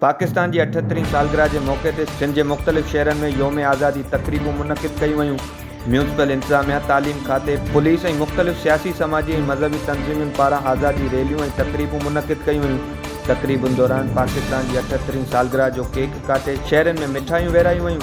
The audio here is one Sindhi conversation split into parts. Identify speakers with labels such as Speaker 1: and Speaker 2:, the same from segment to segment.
Speaker 1: پاڪستان جي اٺهترين سالگرهه جي موقعي تي سنڌ جي مختلف شهرن ۾ يوم آزادي تقريبون منعقد ڪيون ويون ميونسپل انتظاميا، تعليم کاتي، پوليس ۽ مختلف سياسي، سماجي ۽ مذهبي تنظيمن پاران آزادي ريليون ۽ تقريبون منعقد ڪيون ويون. تقريبن دوران پاڪستان جي اٺهترين سالگرهه جو ڪيڪ ڪاٽي شهرين ۾ مٺايون ورهايون ويون.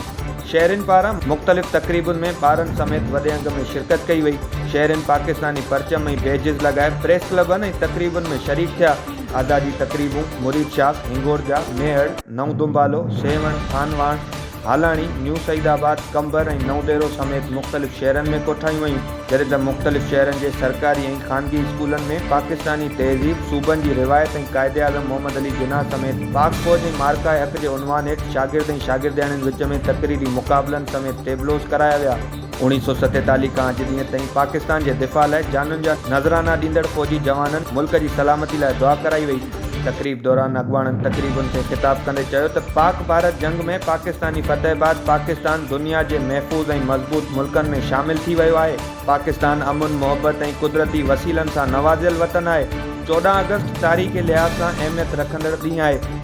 Speaker 1: شهرين پاران مختلف تقريبن ۾ ٻارن سميت وڏي انگ ۾ شرڪت ڪئي وئي. شهرين پاڪستاني پرچم ۽ بيجز لڳائي پريس ڪلبن ۽ تقريبن ۾ شريڪ ٿيا. آزادي تقريبون مريد شاخ، هنگور جا، ميهڙ، نئون دنبالو، سيوهڻ، خانواهڻ، هالاڻي، نيو سعيد آباد، قمبر ۽ نئون ديرو سميت مختلف شهرن ۾ ڪوٺايون ويون، جڏهن ته مختلف شهرن جي سرڪاري ۽ خانگي اسڪولن ۾ پاڪستاني تهذيب، صوبن جي روايت ۽ قائداعظم محمد علي جناح سميت پاڪ فوج ۽ معرڪه حق جي عنوان هيٺ شاگرد ۽ شاگردياڻين وچ ۾ تقريري مقابلن سميت ٽيبلوز ڪرايا ويا. اوڻيهه سؤ ستيتاليهه کان اڄ ڏينهن تائين پاڪستان جي دفاع لاء جانن جا نذرانا ڏيندڙ فوجي جوانن ملڪ جي سلامتي لاء دعا ڪرائي وئي. تقريب دوران اڳواڻن تقريبن کي خطاب ڪندي چيو ته پاڪ ڀارت جنگ ۾ پاڪستاني فتح بعد پاڪستان دنيا جي محفوظ ۽ مضبوط ملڪن ۾ شامل ٿي ويو آهي، پاڪستان امن، محبت ۽ قدرتي وسيلن سان نوازيل وطن آهي، چوڏهن آگسٽ تاريخي لحاظ سان اهميت رکندڙ ڏينهن آهي.